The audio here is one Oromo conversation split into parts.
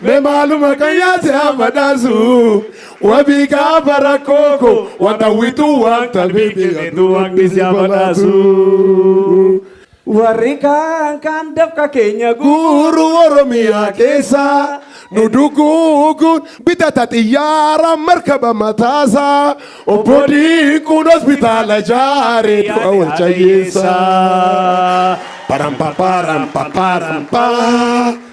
Me maaluma kan yaase amadaasu wabii gaafa rakkoo koo wanta wituu wanta beekte jedhu waqti si amadaasu. Warri kaan kaan dafqa keenya guuru Oromiyaa keessa nu duguuguun bitata xiyyaara markaba mataasa obbo Diinquun hospitaala jaare du'a wal cayyeessa. Param paparam paparam paa.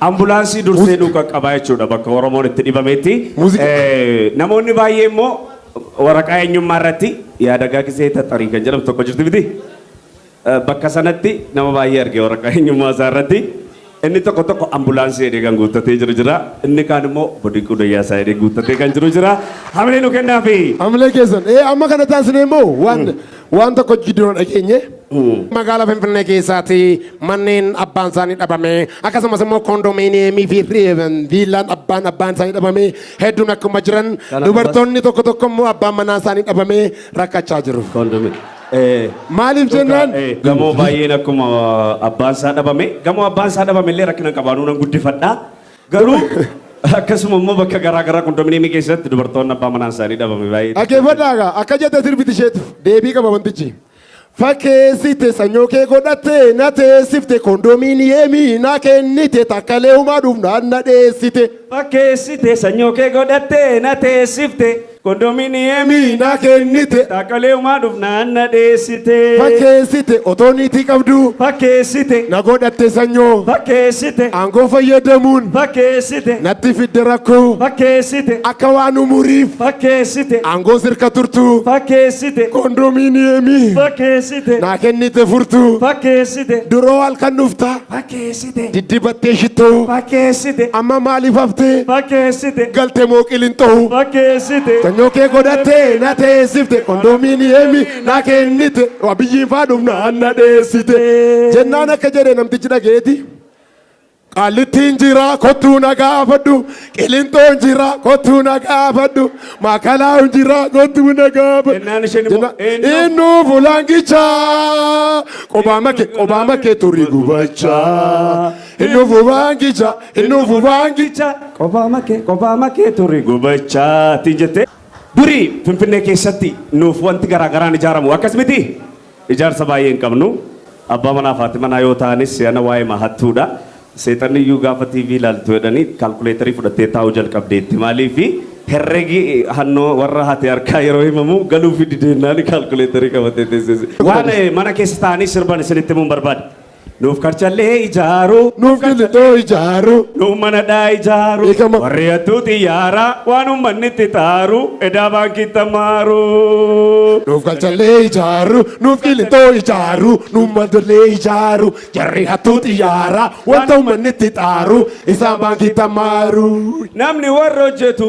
Ambulaansii dursee nu qaqqabaa jechuudha bakka Oromoon itti dhibametti. Muuziqaa. Eh, Namoonni baay'ee immoo waraqaa eenyummaa irratti yaadagaa gisee taxarii kan jedhamtu tokko jirti miti. Eh, Bakka sanatti nama baay'ee arge waraqaa eenyummaa isaa irratti. Inni tokko tokko ambulaansii jedhee kan guuttatee jiru jira. Inni kaan immoo bodiquu dayyaa isaa jedhee guuttatee kan jiru jira. Hamilee nu kennaafi. Hamilee keessan. Ee amma kana taasisne immoo waan Waan tokko jijjiiruu dhageenye magaalaa Finfinnee keessaati manneen abbaan isaanii dhabame akkasumas immoo koondomiiniyeemii fi viillaan abbaan abbaan isaanii dhabame hedduun akkuma jiran dubartoonni tokko tokko immoo abbaan manaa isaanii dhabame rakkachaa jiru. Maaliif jennaan? Gamoo baay'een akkuma abbaan isaa dhabame gamoo abbaan isaa dhabame illee rakkina qabaanuu nan guddifadhaa. Garuu akkasuma immoo bakka garaa garaa kondominiyeemii keessatti dubartoonni abbaa manaan isaanii dhabame baay'ee. Dhaggeeffadhaa egaa akka jette sirbiti isheetu deebii qaba wantichi. Fakkeessite sanyoo kee godhatte na teessifte kondominiyeemii na kennite takkalee humaa dhuuf na na dheessite. Fakkeessite sanyoo kee godhatte na teessifte Kondominiyeemii Mii na kennite Dhaqqaleeumaa dhufnaan na dheessite. fakkeessite otoo niitii qabduu Fakkeessite. na godhatte sanyoo Fakkeessite. aangoo fayyadamuun Fakkeessite. natti fidde rakkoo Fakkeessite. akka waan umuriif Fakkeessite. aangoo sirka turtuu Fakkeessite. kondominiyeemii Fakkeessite. naa kennite furtuu Fakkeessite. duroo halkan dhuftaa Fakkeessite. fakkeessite Diddibattee shittoo fakkeessite amma maaliif hafte fakkeessite galte moo qilinxoo fakkeessite Sanyoo kee godhattee na teessifte kondominiyeemi na kennite abiyyiin faa dhumnaan na dheessite jennaan akka jedhe namtichi dhageeti qaallittiin jira kottuu na gaafadhu Qilinxoo jira kottuu na gaafadhu makalaa jira kottuu na gaafadhu. Jennaan isheen immoo, Jennaan, "Eenyu?" Eenyu fulaangichaa qobaama kee qobaama kee turii gubachaa. Eenyu fulaangichaa eenyu fulaangichaa. Gicha qophaa makee qophaa makee turre gubachaa ti jettee. Durii Finfinnee keessatti nuuf wanti garaa garaan ijaaramu akkas miti. Ijaarsa baay'ee hin qabnu. Abbaa manaaf haati manaa yoo ta'anis si'ana waa'eema hattuudha. Seexanniyyuu gaafa TV ilaaltu jedhanii kaalkuleetarii fudhattee taa'uu jalqabdeetti. Maaliifi herregi hannoo warra haati harkaa yeroo himamu galuufii dideennaan kaalkuleetarii qabattee teesseesi. Waan mana keessa taa'anii sirban isinitti himuun barbaada. Nuuf karchallee ijaaru. Nuuf gillixoo ijaaru. Nuuf manadhaa ijaaru. Beekama. Warri hattuu xiyyaara waan uummanni itti taaru edaa baankii tamaaru. Nuuf galchallee ijaaru, nuuf qilixoo ijaaru, nuuf madollee ijaaru, jarri hattuu xiyyaara, wanta uummanni itti xaaru, isaan baankii tamaaru. Namni warra hojjetu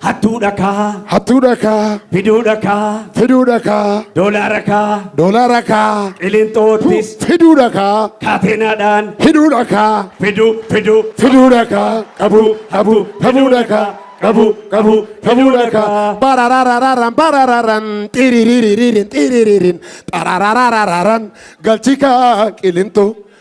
Hattuu dhakaa. Hattuu dhakaa. Fiduu dhakaa. Fiduu dhakaa. Doolaara kaa. Doolaara kaa. Qilinxoottis. Fiduu dhakaa. Kaateenaadhaan. Hidhuu dhakaa. Fiduu fiduu. Fiduu dhakaa. Qabuu qabuu qabuu dhakaa. Qabuu qabuu qabuu dhakaa. Barararararan barararan xiriririn xiriririn xarararararan galchikaa qilinxoo.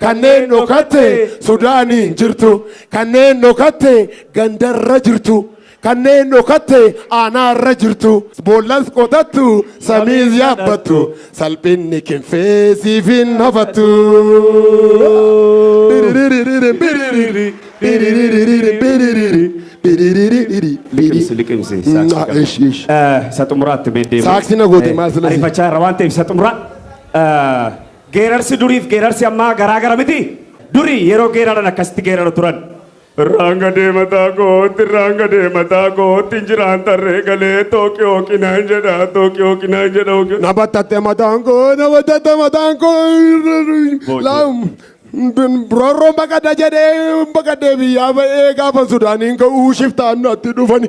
Kanneen dhokatte Sudaaniin jirtu, kanneen dhokatte gandarra jirtu, kanneen dhokatte aanaarra jirtu, boollas qotattu samiis yaabbattu, salphinni kinfee siif hin hafattu. Biririririn biriri, biririririn biriri, biririririn Liqimsi, liqimsi. biriri. saaksii Naa, kana. ish, ish. Eh, Isa xumuraatti mee deemu. Saaksii na goote, Eh, maal sila si- Ariifachaa irra waan ta'eef isa xumuraa. eh, Geerarsi duriif geerarsi ammaa garaa gara miti? Duri yeroo geeraran akkasitti geeraru turan. Irraan gadee mataa kootti, irraan gadee mataa kootti, injiraan tarree galee tooqi hooqi naan jedha, tooqi hooqi naan jedha. hooqi- Na battatte mataan koo, na battatte mataan koo. Laam. Roorroon baqadha jedhee baqadhee biyyaa ba'ee gaafa Sudaaniin ka'uu shiftaan natti dhufani.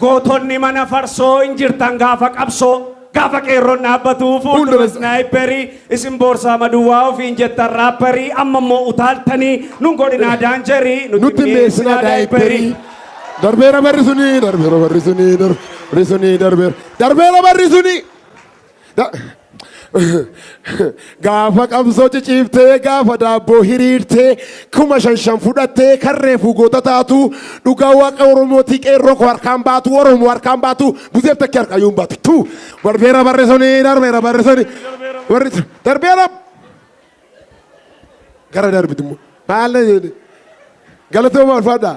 Gootonni mana farsoo hin jirtan gaafa qabsoo gaafa qeerroon dhaabbatu fuuldura snaayipperii isin boorsaa maduwwaa ofiin jettan raapparii amma immoo utaaltanii nun godhinaa daanjarii nutti mi'eessinaa daayipperii. Darbeera barri suni darbeera barri suni darbeera suni darbeera darbeera barri suni. gaafa qabsoo ciciiftee gaafa daabboo hiriirtee kuma shan shan fudhattee kan reefuu goota taatu dhugaa waaqa oromootii qeerroo koo harkaan baatu oromoo harkaan baatu buzeef takkee harkaa yoon baatu tu barbeera barreessoni darbeera barreessoni warri darbeera gara darbiti immoo maal galatoomaa ulfaadhaa.